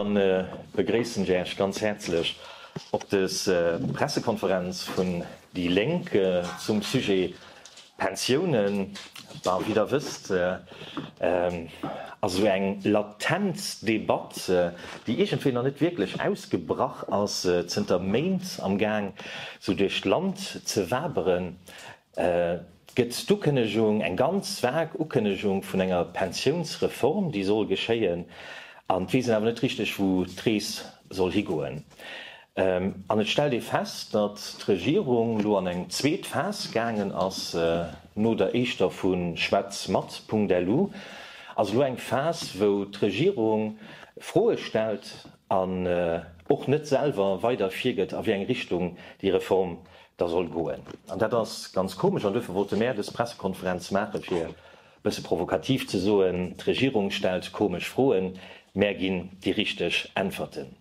Dann begréissen ech Äech ganz häerzlech op des Pressekonferenz vun déi Lénk zum Sujet Pensiounen. Bah, wéi Der wësst, ass esou eng latent Debatt, déi iergendwéi nach net wierklech ausgebrach ass, zënter Méint am Gaang esou duerch d'Land ze waberen. gëtt d'Ukënnegung, eng ganz vag Ukënnegung vun enger Pensiounsreform, déi soll geschéien, an d'weess een awer net richteg, wou d'Rees soll higoen. An et stellt ee fest, datt d'Regierung elo an eng zweet Phas gaangen ass, no der éischter vu Schwätz mat Punkt elu ass elo eng Phas, wou d'Regierung Froe stellt an och net selwer weider virgëtt, a wéi eng Richtung déi Reform da soll goen. An dat ass ganz komesch an duerfir wollte mär dës Pressekonferenz maachen, fir e bësse provokativ ze soen, d'Regierung stellt komesch Froen, mär ginn déi richteg Äntwerten.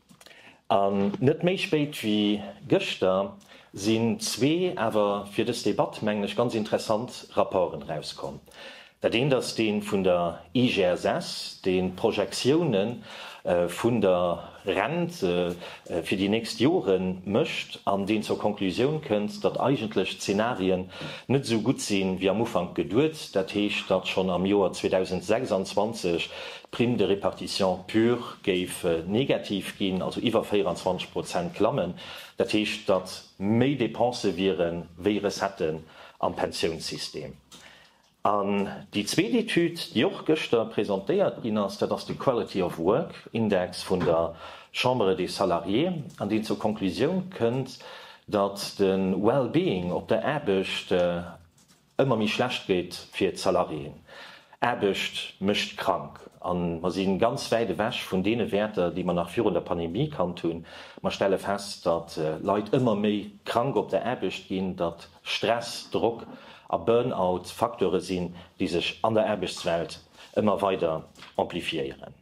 An net méi spéit wéi gëschter sinn zwee, awer fir dës Debatt mengen ech ganz interessant, Rapporten erauskomm. Dat eent ass dee vun der IGSS, dee Projektioune vun der Rent fir déi nächst Jore mécht an deen zur Konklusioun kënnt, datt eigentlech d'Zenarien net esou gutt si wéi am Ufank geduet, dat heescht, datt schonn am Joer 2026 d'Prime de répartition pure géif negativ ginn, also iwwer 24 Prozent klammen. Dat heescht, datt méi Depensë wiere wéi Recettë am Pensiounssystem. An déi zweet Etüd, déi och gëschter presentéiert ginn ass, dat ass de Quality of Work Index vun der Chambre des Salariés, an deen zur Konklusioun kënnt, datt de Well-being op der Aarbecht ëmmer méi schlecht gétt fir d'Salariéen. Aarbecht mécht krank. A mer si ganz wäit ewech vun deene Wäerter, déi mer nach virun der Pandemie kannt hunn. Mer stelle fest, datt Leit ëmmer méi krank op der Aarbecht ginn, datt. Stress, Drock a Burnout Facteure sinn, déi sech an der Aarbechtswelt ëmmer weider amplifiéieren.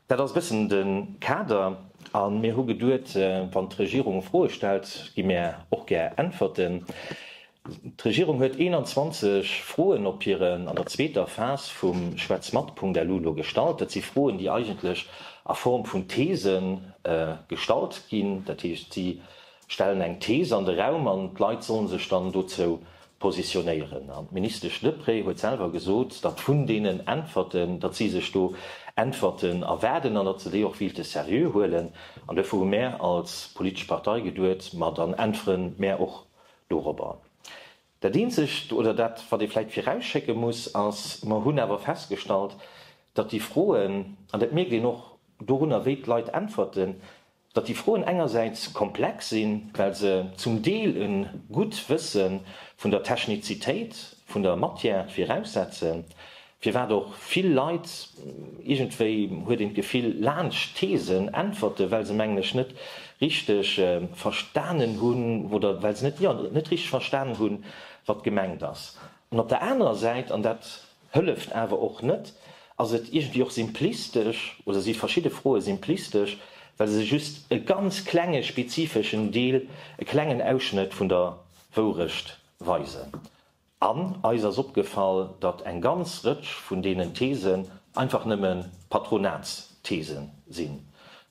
Dat ass e bëssen de Kader a mir hu geduet, wann d'Regierung Froe stellt, gi mir och gär Äntwerten. D'Regierung huet 21 Froen op hiren, an der zweeter Phas vum Schwätz mat-Punkt-LU lo gestallt. Dat si Froen, déi eigentlech a Form vun These gestallt ginn. Dat heescht, si stellen eng Thees an de Raum an d'Leit sollen sech dann dozou positionéieren. An d'Ministesch Deprez huet selwer gesot, datt vun deenen Äntwerten, datt si sech do Äntwerten erwaarden an datt se déi och willte seriö huelen. An duerfir hu mär als politesch Partei geduet, ma dann äntwere mär och dorobber. Dat Eenzegt, oder dat wat ee vläicht virausschécke muss, ass, mer hunn awer festgestallt, datt déi Froen, an dat mierkt een och dorunner wéi d'Leit äntwerten, datt déi Froen engersäits komplex sinn, well se zum Deel e gutt Wësse vun der Technizitéit vun der Matière viraussetzen, firwat och vill Leit, iergendwéi huet een d'Gefill, laanscht d'Theesen äntwerte well se mengen ech net richteg verstanen hunn oder well se net, jo, net richteg verstanen hunn, wat gemengt ass. An op der anerer Säit, an dat Hëlleft awer och net. Ass et iergendwéi och simplistesch oder si verschidde Froe simplistesch, well se just e ganz klenge spezifeschen Deel, e klengen Ausschnëtt vun der Wourecht weisen? An eis ass opgefall, datt eng ganz Rëtsch vun deenen Thesen einfach nëmme Patronatsthese sinn,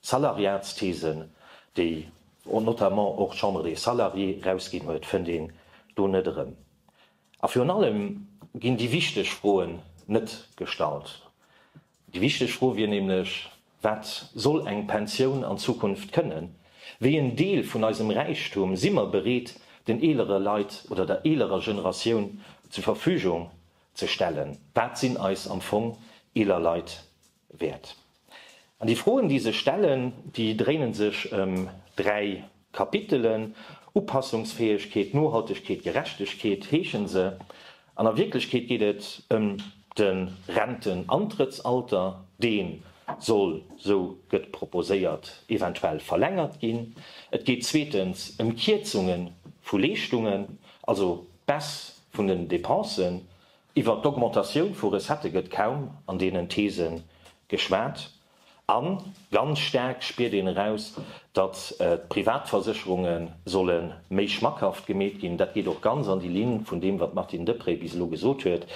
Salariatsthesen, déi notamment och d'Chambre des Salariés erausginn huet, fënnt een do net erëm. A virun allem ginn déi wichteg Froen net gestallt. Déi wichteg Fro wier nämlech, Wat soll eng Pensioun an Zukunft kënnen? Wéi en Deel vun eisem Räichtum si mer bereet, den eelere Leit oder der eelerer Generatioun zur Verfügung ze stellen? Wat sinn eis am Fong eeler Leit Wäert. An déi Froen, déi sech stellen, déi dréinen sech ëm dräi Kapitelen, Upassungsfäegkeet, Nohaltegkeet, Gerechtegkeet heeschen se. An a Wierklechkeet geet et ëm de Rentenantrëttsalter, dee soll, esou gëtt proposéiert, eventuell verlängert ginn. Et geet zweetens ëm Kierzunge vu Leeschtungen, also d'Baisse vun den Depensen, Iwwer d'Augmentatioun vu Recettë gëtt kaum an deenen These geschwat. A ganz staark spiert een eraus, datt d'Privatversécherunge solle méi schmackhaft gemeet ginn. Dat geet och ganz an déi Linn vun deem, wat d'Martine Deprez bis elo gesot huet,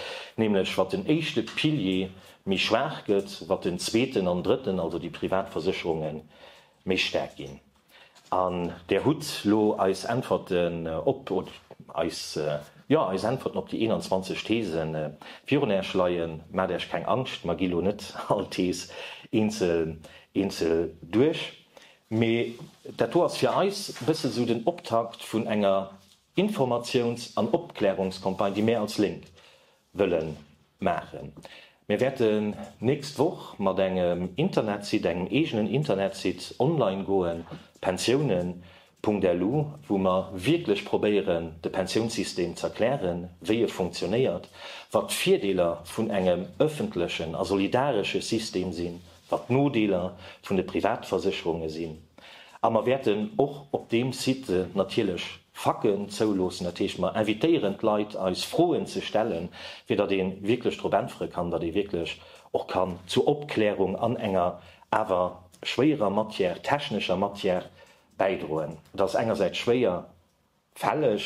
nämlech wat den éischte Pilier méi schwaach gëtt, wat den zweeten an drëtten, also déi Privatversécherunge méi staark ginn. An Där hutt lo eis Äntwerten op, oder eis, jo, eis Äntwerten op déi 21 These virun Äerch leien. Maacht Äerch keng Angscht, mer gi lo net all Thes eenzel, eenzel duerch, mee dat do ass fir eis e bësse esou den Optakt vun enger Informatiouns an Opklärungscampagne, déi mär als Lénk wëllen maachen. Mir wäerten nächst Woch mat engem Internetsite, engem eegenen Internetsite online goen, pensiounen.lu, wou mer wierklech probéieren de Pensiounssystem ze erklären, wéi e funktionéiert, wat d'Virdeeler vun engem ëffentlechen a solidaresche System sinn, wat d'Nodeeler vun de Privatversécherunge sinn, a mer wäerten och op deem Site natierlech Faken zouloossen. Dat heescht, mer invitéieren d'Leit, eis Froen ze stellen, fir datt ee wierklech drop äntwere kann, datt ee wierklech och kann zur Opklärung an enger awer schwéierer Matière, technescher Matière bäidroen. Et ass engersäits schwéier. fälleg,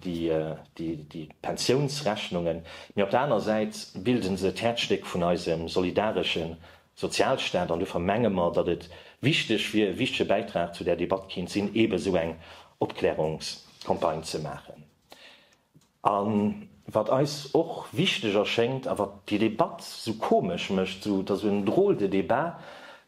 déi Pensiounsrechnungen, mee op der aner Säit bilde se d'Häerzstéck vun eisem solidaresche Sozialstaat. An dofir menge mer, datt et wichteg wier, e wichtege Bäitrag zu där Debatt kéint sinn, eebe esou eng Opklärungscampagne ze maachen. A wat eis och wichteg erschéngt a wat déi Debatt esou komesch mécht, esou, et ass esou en drôle de débat,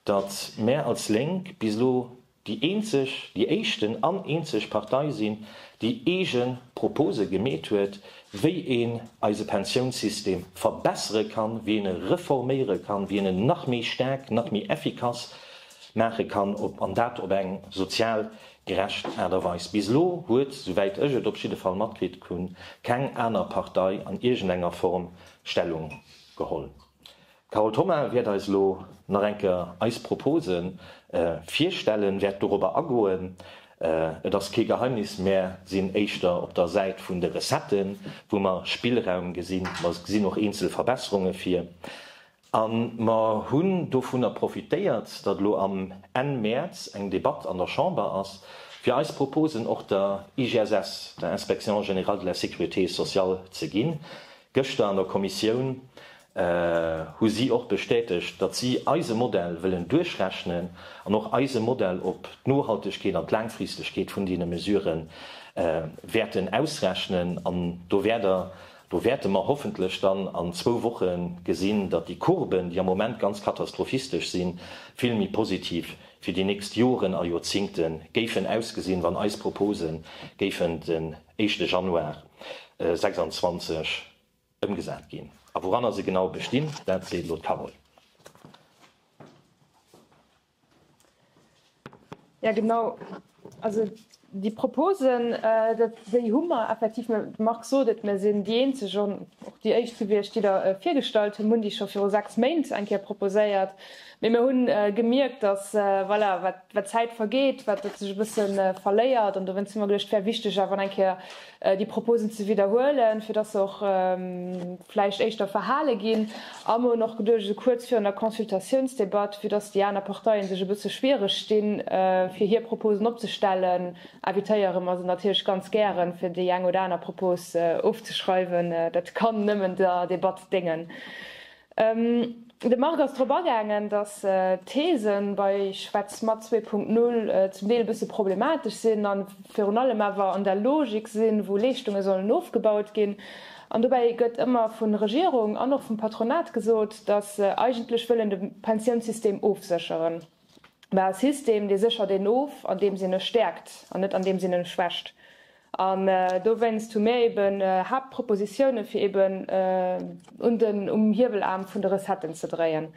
datt mär als Lénk bis elo déi eenzeg, déi éischten an eenzeg Partei sinn, déi eege Propose gemeet huet, wéi een eise Pensiounssystem verbessere kann, wéi een e reforméiere kann, wéi een en nach méi staark, nach méi effikass maache kann, an dat op eng sozial gerecht Aart a Weis. Bis elo huet, souwäit ech et op jidde Fall matkritt hunn, keng aner Partei an iergendenger Form Stellung geholl. D'Carole Thoma wäert eis elo nach eng Kéier eis Propose virstellen, wäert dorobber agoen. Et ass kee Geheimnis, Mär sinn éischter op der Säit vun de Recetten, wou mer Spillraum gesinn. Mer gesinn och eenzel Verbesserunge vir. A mer hunn dovunner profitéiert, datt elo am Enn Mäerz eng Debatt an der Chamber ass, fir eis Proposen och der IGSS, der Inspection générale de la sécurité sociale, ze ginn, Gëschter an der Kommissioun hu si och bestätegt, datt si eise Modell wëllen duerchrechnen an och eise Modell op d'Nohaltegkeet an d'Laangfristegkeet vun deene Mesurë wäerten ausrechnen. An do wäert Der, do wäerte mer hoffentlech dann an zwou Woche gesinn, datt déi Courben, déi am Moment ganz katastrophistesch sinn, vill méi positiv fir déi nächst Joren a Joerzingte géifen ausgesinn, wann eis Propose géifen de éischte Januar 26 ëmgesat ginn a wouranner se genau bestinn, dat seet elo d'Carole. Jo genau, also déi Proposen, déi hu mer effektiv, de Marc sot et, mir sinn déi eenzeg, och déi éischt, souwéi ech, déi der virgestallt hunn, mir hunn déi scho viru sechs Méint eng Kéier proposéiert, Mee mir hunn gemierkt, dass, voilà, wat d'Zäit vergeet, wat et sech e bësse verléiert. An dowéinst hu mer geduecht, et wär wichteg awer nach eng Kéier déi Proposen ze widderhuelen, fir dass se och vläicht éischter verhale ginn. A mir hunn och geduecht, esou kuerz virun der Consultatiounsdebatt, vue dass déi aner Parteien sech e bësse schwiereg di fir hir Proposen opzestellen, invitéiere mer se natierlech ganz gären, fir déi eng oder aner Propos ofzeschreiwen. Dat kann nëmmen der Debatt déngen. De Marc ass drop agaangen, datt d'These bei Schwätz mat 2.0 zum Deel e bësse problematesch sinn a virun allem awer an der Logik sinn, wou Leeschtunge sollen ofgebaut ginn. An dobäi gëtt ëmmer vun Regierung an och vum Patronat gesot, datt se eigentlech wëllen de Pensiounssystem ofsécheren. mä e System, dee séchert een of, andeems een e stäerkt, an net andeems een e schwächt. An dowéinst hu mir ebe Haaptpropositiounen, fir eben un den, um Hiewelaarm vun de Recetten ze dréien.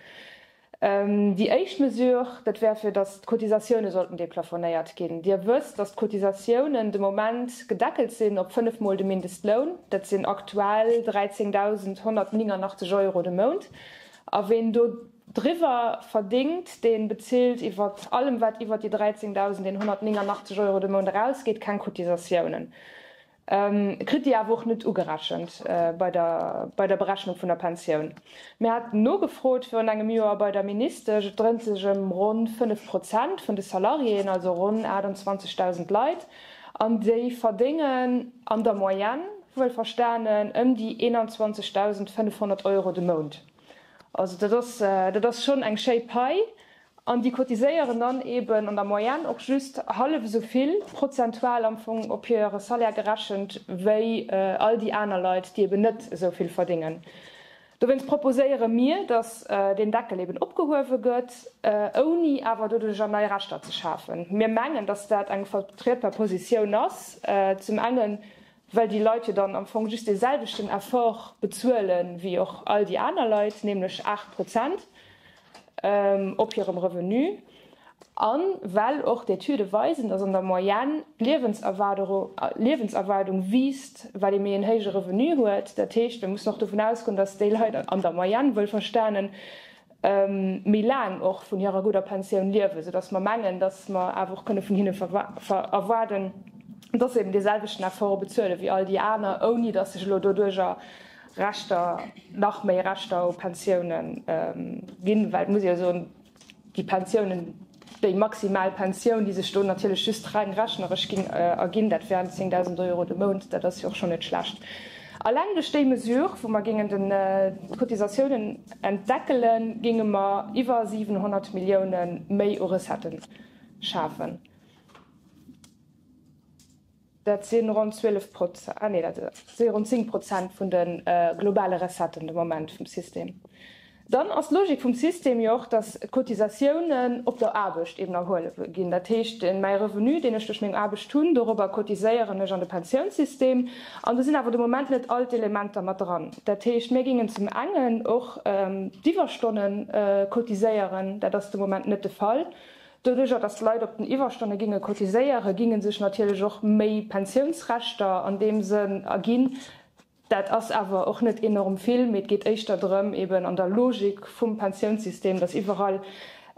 Déi éischt Mesure, dat wär, fir datt d'Cotisatioune sollten deplafonéiert ginn. Dir wësst, datt d'Cotisatiounen de Moment gedeckelt sinn op fënnef Mol de Mindestloun. Dat sinn aktuell 13.189 Euro de Mount. A ween do. Driwwer verdéngt, dee bezilt iwwer allem, wat iwwer déi 13.189 Euro de Mount erausgeet, keng Cotisatiounen, kritt déi awer och net ugerechent bei der Berechnung vun der Pensioun. Mir haten nogefrot virun engem Joer bei der Ministesch, et dréint sech ëm ronn 5 Prozent vun de Salariéen, also ronn 28.000 Leit, an déi verdéngen an der Moyenne, wuelverstanen, ëm déi 21.500 Euro de Mount. Also dat ass, dat ass schonn eng schéi Pai. An déi cotiséieren dann eeben an der Moyenne och just hallef esou vill, prozentual am Fong op hire Salaire gerechent, wéi all déi aner Leit, déi eeben net esou vill verdéngen. Dowéinst proposéiere mir, datt deen Deckel eeben opgehuewe gëtt, ouni awer doduerjer nei Rechter ze schafen. Mir mengen, datt dat eng vertrietbar Positioun ass, zum engen, well déi Leit jo dann am Fong just dee selwechten Effort bezuele wéi och all déi aner Leit, nämlech 8 Prozent op hirem Revenu, a well och d'Etüde weisen, datt an der Moyenne d'Liewenserwaardung wiisst, well ee méi en héije Revenu huet. Dat heescht, mir mussen och dovun ausgoen, datt déi Leit an der Moyenne, wuelverstanen, méi laang och vun hirer gudder Pensioun liewen, soudass mer mengen, dass mer awer och kënne vun hinne erwaarden, dass se eben dee selwechten Effort bezuele wéi all déi aner, ouni dass sech elo doduerjer Rechter, nach méi Rechter u Pensiounen ginn, well et muss ee jo soen, déi Pensiounen, Déi maximal Pensioun, déi sech do natierlech just reng rechneresch géing erginn, dat wären 10.000 Euro de Mount. Dat ass jo och schonn net schlecht. Alleng duerch déi Mesure, wou mer géingen d'Cotisatiounen entdeckelen, géinge mer iwwer 700 Milliounen méi u Recetten schafen. Dat si ronn 12 Prozent, ah nee, dat si ronn 10 Prozent vun de globale Recetten de Moment vum System. Dann ass d'Logik vum System jo och, datt d'Cotisatiounen op der Aarbecht eben erhuele ginn. Dat heescht, mäi Revenu, deen ech duerch meng Aarbecht hunn, dorobber cotiséieren ech an de Pensiounssystem. An do sinn awer de Moment net all d'Elementer mat dran. Dat heescht, mir géingen zum engen och d'Iwwerstonnen cotiséieren, dat ass de Moment net de Fall. Doduerjer, datt d'Leit op den Iwwerstonne ginge cotiséieren, ginge sech natierlech och méi Pensiounsrechter an deem Sënn erginn. Dat ass awer och net enorm vill, mee et geet éischter drëm, eben an der Logik vum Pensiounssystem, datt iwwerall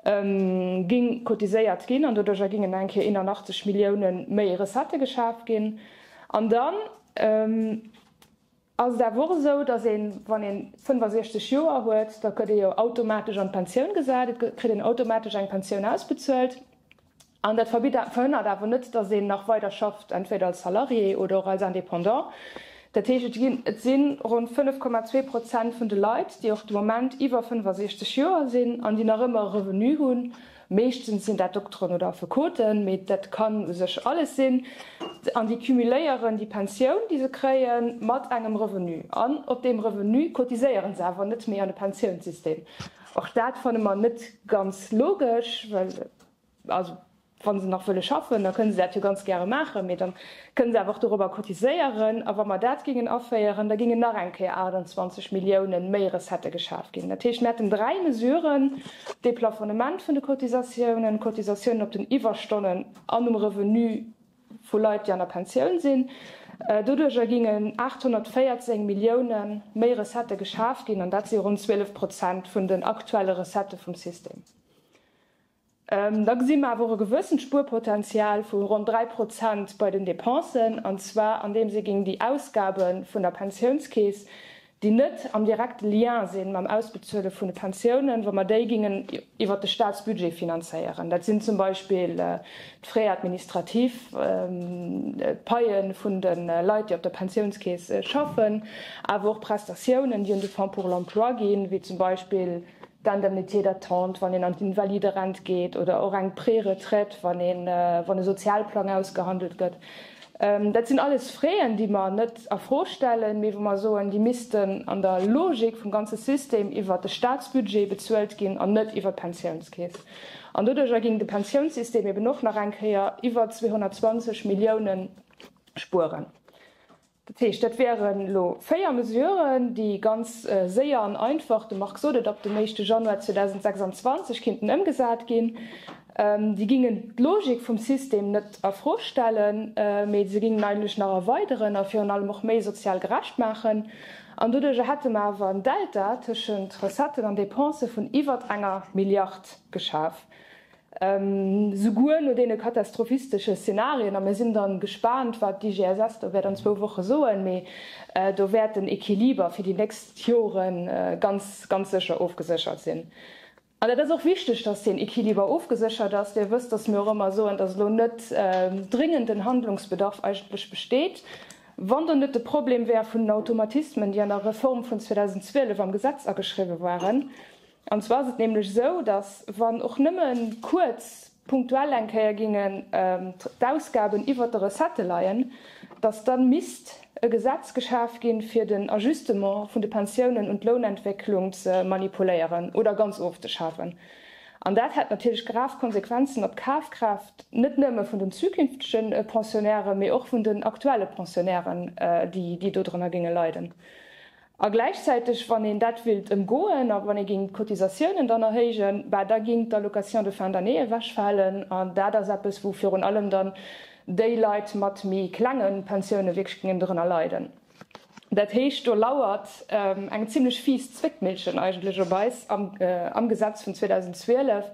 géing cotiséiert ginn an doduerjer géingen eng Kéier 81 Milliounen méi Recettë geschaf ginn. An dann. ass et awer och esou, dass een, wann een 65 Joer huet, da gëtt ee jo automatesch an d'Pensioun gesat, et kritt een automatesch eng Pensioun ausbezuelt. An dat verbitt, verhënnert awer net, dass een nach weider schafft, entweder als Salarié oder och als Indépendant. Dat heescht, et ginn, et si ronn 5,2 Prozent vun de Leit, déi och de Moment iwwer 65 Joer sinn an déi nach ëmmer e Revenu hunn, Meeschtens sinn dat Dokteren oder Affekoten, mee dat kann u sech alles sinn. An déi cumuléieren déi Pensioun, déi se kréien, mat engem Revenu. An op deem Revenu cotiséieren se awer net méi an de Pensiounssystem. Och dat fanne mer net ganz logesch, well, also, wa se nach wëlle schaffen, da kënne se dat jo ganz gäre maachen, mee dann Kënne se awer och dorobber cotiséieren. A wa mer dat géingen aféieren, da géingen nach eng Kéier 28 Milliounen méi Recettë geschaf ginn. Dat heescht, mir hätten dräi Mesuren, dee Plafonnement vun de Cotisatiounen, Cotisatiounen op den Iwwerstonnen an um Revenu vu Leit, déi an der Pensioun sinn. Doduerjer géingen 814 Millioune méi Recettë geschaf ginn, an dat si ronn 12 Prozent vun den aktuelle Recettë vum System. Da gesi mer awer och e gewëssent Spuerpotential vu ronn 3 Prozent bei den Dépensen, an zwar andeems ee géing déi Ausgabe vun der Pensiounskeess, déi net am direkte Lien sinn mam Ausbezuele vun de Pensiounen, wa mer déi géingen iwwert de Staatsbudget finanzéieren, dat sinn zum Beispill d'Frais administratifs, d'Paie vun de Leit, déi op der Pensiounskeess schaffen, awer och Prestatiounen, déi un de Fonds pour l'emploi ginn, wéi zum Beispill d'Indemnité d'attente, wann een an d'Invalide-Rent geet, oder och eng Pré-Retraite, wann e Sozialplang ausgehandelt gëtt. Dat sinn alles Fräen, déi mer net a Fro stellen, mee wou mer soen, déi missten an der Logik vum ganze System iwwert de Staatsbudget bezuelt ginn an net iwwert d'Pensiounskeess. An doduerjer géing de Pensiounssystem eben och nach eng Kéier iwwer 220 Milliounen spueren. Dat heescht, dat wieren elo véier Mesuren, déi ganz séier an einfach, de Marc sot et, ab dem éischte Januar 2026 kinnten ëmgesat ginn. Déi gingen d'Logik vum System net a Fro stellen, mee se gingen eigentlech nach erweideren a virun allem och méi sozial gerecht maachen. An doduerjer hätte mer awer en Delta tëschent Recetten an Dépense vun iwwert enger Milliard geschaf. Souguer no deene katastrophistesche Szenarien, a mir sinn dann gespaant, wat d'IGSS do wäert an zwou Woche soen, mee do wäert den Equiliber fir déi nächst Jore ganz, ganz sécher ofgeséchert sinn. An dat ass och wichteg, dass deen Equiliber ofgeséchert ass. Dir wësst, dass mir och ëmmer soen, dass elo net dringenden Handlungsbedarf eigentlech besteet. Wann do net de Problem wär vun den Automatismen, déi an der Reform vun 2012 am Gesetz ageschriwwen waren, An zwar ass et nämlech esou, dass, wann och nëmme kuerz punktuell eng Kéier géingen d'Ausgaben iwwert de Recettë leien, dass da misst e Gesetz geschaf ginn, fir den Ajustement vun de Pensiounen un d'Lounentwécklung ze manipuléieren oder ganz ofzeschafen. An dat hätt natierlech grav Konsequenzen op d'Kafkraaft net nëmme vun den zukünftege Pensionäre, mee och vun den aktuelle Pensionären, déi dodrënner géinge leiden. A gläichzäiteg, wann een dat wéilt ëmgoen a wann ee géing d'Cotisatiounen dann erhéijen, bah da géing d'Allocation de fin d'année ewechfalen. An dat ass eppes, wou virun allem dann déi Leit mat méi klenge Pensioune wierklech géingen dorënner leiden. Dat heescht, do lauert eng zimlech fies Zwéckmillchen eigentlech op eis am Gesetz vun 2012.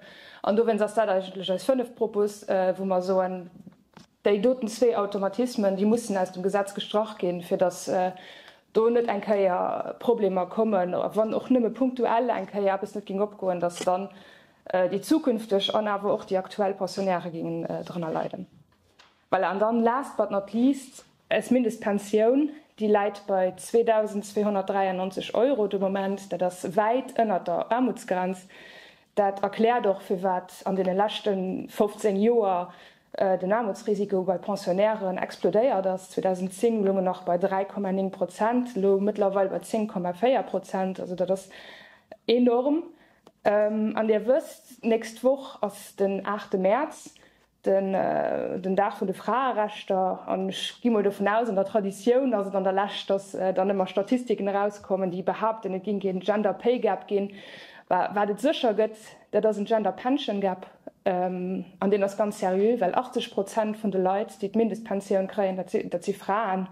An dowéinst ass dat eigentlech eis fënneft Propos, wou mer soen, Déi doten zwee Automatismen, déi mussen aus dem Gesetz gestrach ginn, fir dass do net eng Kéier Problemer kommen, a wann och nëmme punktuell eng Kéier eppes net géing opgoen, dass dann déi zukünfteg an awer och déi aktuell Pensionäre géingen drënner leiden. Voilà, an dann last but not least, Eis Mindestpensioun, déi läit bei 2.293 Euro de Moment, dat ass wäit ënnert der Aarmutsgrenz. Dat erkläert och, firwat an deene leschte 15 Joer den Aarmutsrisiko bei Pensionnairen explodéiert ass. 2010 loung en nach bei 3,9 Prozent, elo mëttlerweil bei 10,4 Prozent. Also dat ass enorm. An Dir wësst, d'nächst Woch ass den aachte Mäerz. den Dag vun de Fraerechter, an ech gi mol dovun aus, an der Traditioun ass et an der Lescht, datt dann ëmmer Statistiken erauskommen, déi behaupten, et géing keen Gender Pay Gap ginn. Wat et sécher gëtt, dat ass en Gender Pension Gap, an deen ass ganz seriö, well 80 Prozent vun de Leit, déi d'Mindestpensioun kréien, dat si Fraen.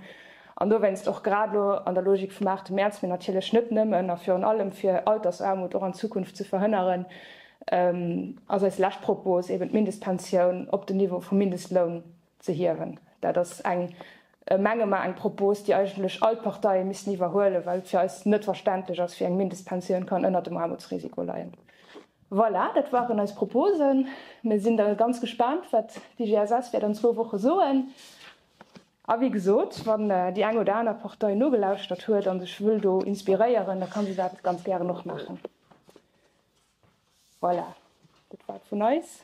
An dowéinst, och grad elo an der Logik vum aachte Mäerz, mee natierlech net nëmmen a virun allem, fir Altersaarmut och an Zukunft ze verhënneren, ass eis lescht Propos eben d'Mindestpensioun op den Niveau vum Mindestloun ze hiewen. Dat ass eng, menge mer, eng Propos, déi eigentlech all d'Parteie missten iwwerhuelen, well et fir eis net verständlech ass, wéi eng Mindestpensioun kann ënnert dem Aarmutsrisiko leien. Voilà, dat waren eis Proposen. Mir sinn da ganz gespaant, wat d'IGSS wäert an zwou Woche soen. A wéi gesot, wann déi eng oder aner Partei nogelauschtert huet a sech wëll do inspiréieren, da ka se dat ganz gären och maachen. Voilà, dat war et vun eis.